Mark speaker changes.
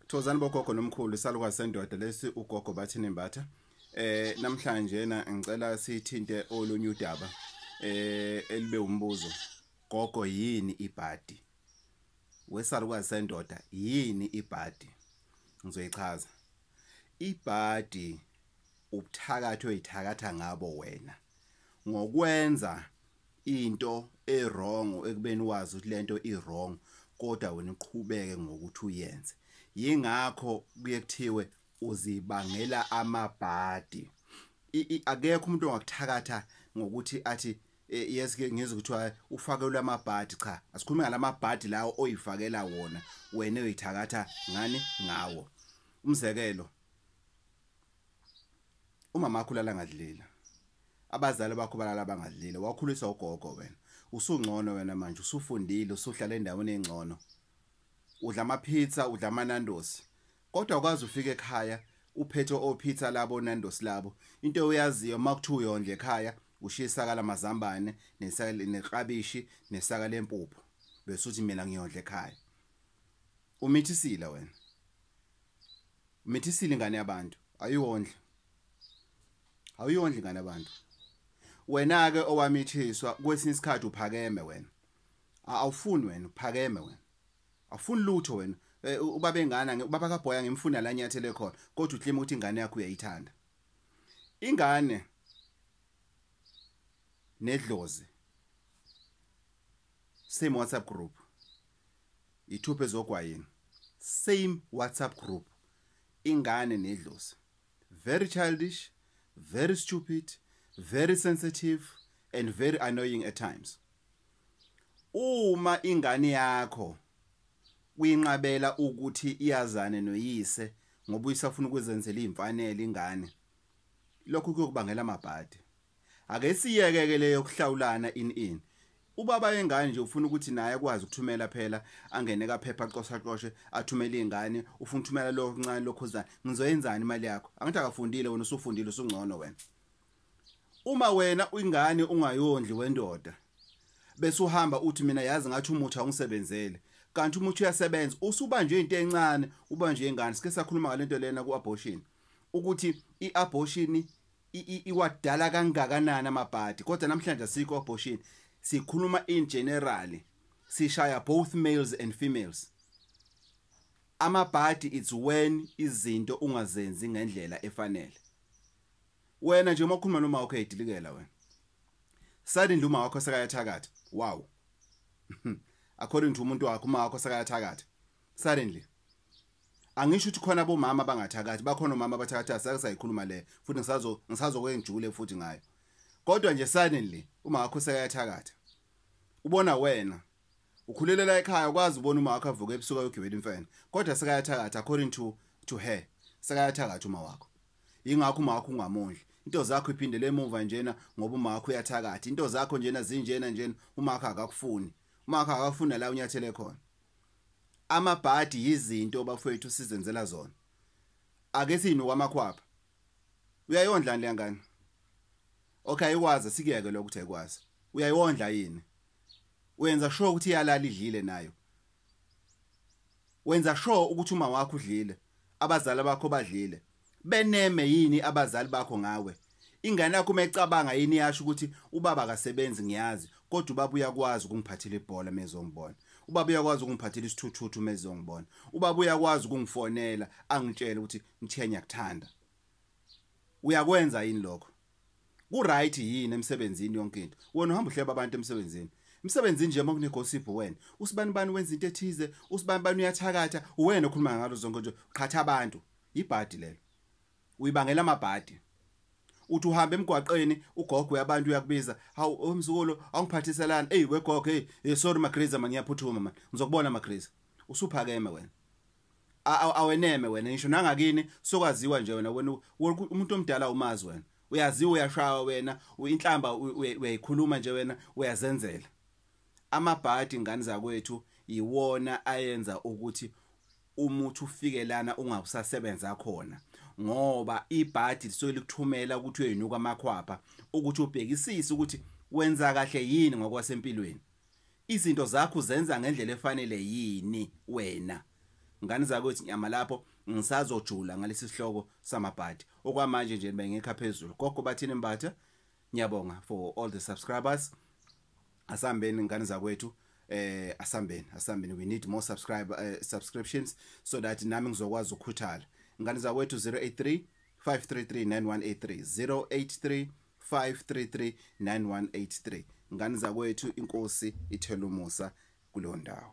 Speaker 1: Thozani bogogo nomkhulu isalukazi sendoda lesi ugogo bathi nembatha eh namhlanje na ngicela sithinte olunye udaba eh elibe umbuzo gogo yini ibhadi wesalukazi sendoda yini ibhadi ngizoyichaza ibhadi ubuthakathi oyithakatha ngabo wena ngokwenza into ewrong ekubeni wazi ukuthi lento iwrong kodwa wena uqhubeke ngokuthi uyenze yingakho kuye kuthiwe uzibangela amabhadi akekho umuntu ongakuthakatha ngokuthi athi e, yes ke ngizwe kuthiwa ufakelwe amabhadi cha asikhulume ngalamabhadi lawo oyifakela wona wena uyithakatha ngani ngawo umzekelo umama wakho ulala ngadlela abazali bakho balala bangadlela wakhulisa ugogo wena usungcono wena manje usufundile usuhlala endaweni engcono udla ama pizza udla ama nandos kodwa ukwazi ufika ekhaya uphethe o pizza labo nandos labo into oyaziyo makuthiwa uyondle ekhaya ushisa kala mazambane nesaka neqabishi nesaka lempuphu bese uthi mina ngiyondle ekhaya Umithisile wena. Umithisile ingane yabantu, ayondle. Awuyondle ingane yabantu. Wena ke owamithiswa kwesinye isikhathi uphakeme wena. Awufuni wena uphakeme wena. Awufuni lutho wena. Eh, ubaba engane nge ubaba kaBoya ngimfuna la nyathele khona kodwa uklima ukuthi ingane yakho uyayithanda ingane nedlozi same WhatsApp group ithuphe zogwayini same whatsapp group ingane nedlozi very childish very stupid very sensitive and very annoying at times uma ingane yakho uyinqabela ukuthi iyazane noyise ngoba uyisafuna ukwenzenzela imfanele ingane lokho kuyokubangela amabhadi ake siyeke ke leyo kuhlawulana in in ubaba yengane nje ufuna ukuthi naye akwazi ukuthumela phela angene kaphepha aqosha qoshe athumele izingane ufuna ukuthumela lo ncane lokhuzana ngizoyenzani imali yakho angithi akafundile wena usufundile usungcono wena uma wena ingane ungayondli wendoda bese uhamba uthi mina yazi ngathi umuthi awungisebenzele kanti umuthi uyasebenza usubanjwe into encane ubanjwe ingane sike sakhuluma ngalento lena ku abortion ukuthi i-abortion iwadala kangakanani amabhadi kodwa namhlanje asikho abortion sikhuluma in generally sishaya both males and females amabhadi it's when izinto ungazenzi ngendlela efanele wena nje uma ukhuluma noma wakho edilikela wena suddenly uma wakho sekayathakatha wow according to umuntu wakho uma wakho sekayathakatha suddenly angisho ukuthi khona bomama abangathakathi bakhona omama abathakathi asake sayikhuluma le futhi ngisazo ngisazokwenjule futhi ngayo kodwa nje suddenly uma wakho sekayathakatha ubona wena ukhulelela ekhaya ukwazi ubona uma wakho avuka ebusuku ayogibela imfene kodwa sekayathakatha according to to her sekayathakatha uma wakho ingakho uma wakho ungamondli into zakho iphindele emuva njena ngoba uma wakho uyathakatha into zakho njena zinjena njena uma wakho akakufuni uma wakho akakufuni la unyathele khona amabhadi yizinto bafowethu sizenzela zona ake sinu kwamakhwapha uyayondla le ngane okay ikwazi sikuyeke lokho ukuthi ayikwazi uyayondla yini wenza sure ukuthi iyalala idlile nayo wenza sure ukuthi uma wakho udlile abazali bakho badlile beneme yini abazali bakho ngawe ingane yakho uma icabanga yini yasho ukuthi ubaba akasebenzi ngiyazi kodwa ubaba uyakwazi ukungiphathela ibhola mezongibona ubaba uyakwazi ukungiphathela isithuthuthu mezongibona ubaba uyakwazi ukungifonela angitshele ukuthi ngithiya ngiyakuthanda uyakwenza yini lokho kuright yini emsebenzini yonke into wena uhamba uhleba abantu emsebenzini emsebenzini nje makune gossip wena usibani bani wenza into ethize usibani bani uyathakatha wena okhuluma ngalo zonke nje qhatha abantu Ibhadi lelo. Uyibangela amabhadi. uthi uhamba emgwaqeni ugogo yabantu uyakubiza hawu omzukulu oh, awungiphathiselana eyi wegogo hey eh, sorry magriza mani ngiyaphuthuma mani ngizokubona magriza usuphakeme wena aweneme wena ngisho nangakini sokwaziwa nje wena wena umuntu omdala umazi wena uyaziwa uyashawa wena inhlamba uyayikhuluma nje wena uyazenzela amabhadi ingane zakwethu iwona ayenza ukuthi umuthi ufike lana ungakusasebenza khona ngoba ibhadi lisuke likuthumela ukuthi uyoyinuka amakhwapha ukuthi ubhekisise ukuthi wenza kahle yini ngokwasempilweni izinto zakho zenza ngendlela efanele yini wena ngani zakwethu nyama lapho ngisazojula ngalesi sihloko samabhadi okwamanje nje bengekho phezulu gogo bathini mbatha ngiyabonga for all the subscribers asambeni ngane zakwethu eh asambeni asambeni we need more subscribe uh, subscriptions so that nami ngizokwazi ukukhuthala ngane zakwethu 083 5339183 083 5339183 ngane zakwethu inkosi ithela umusa kulo ndawo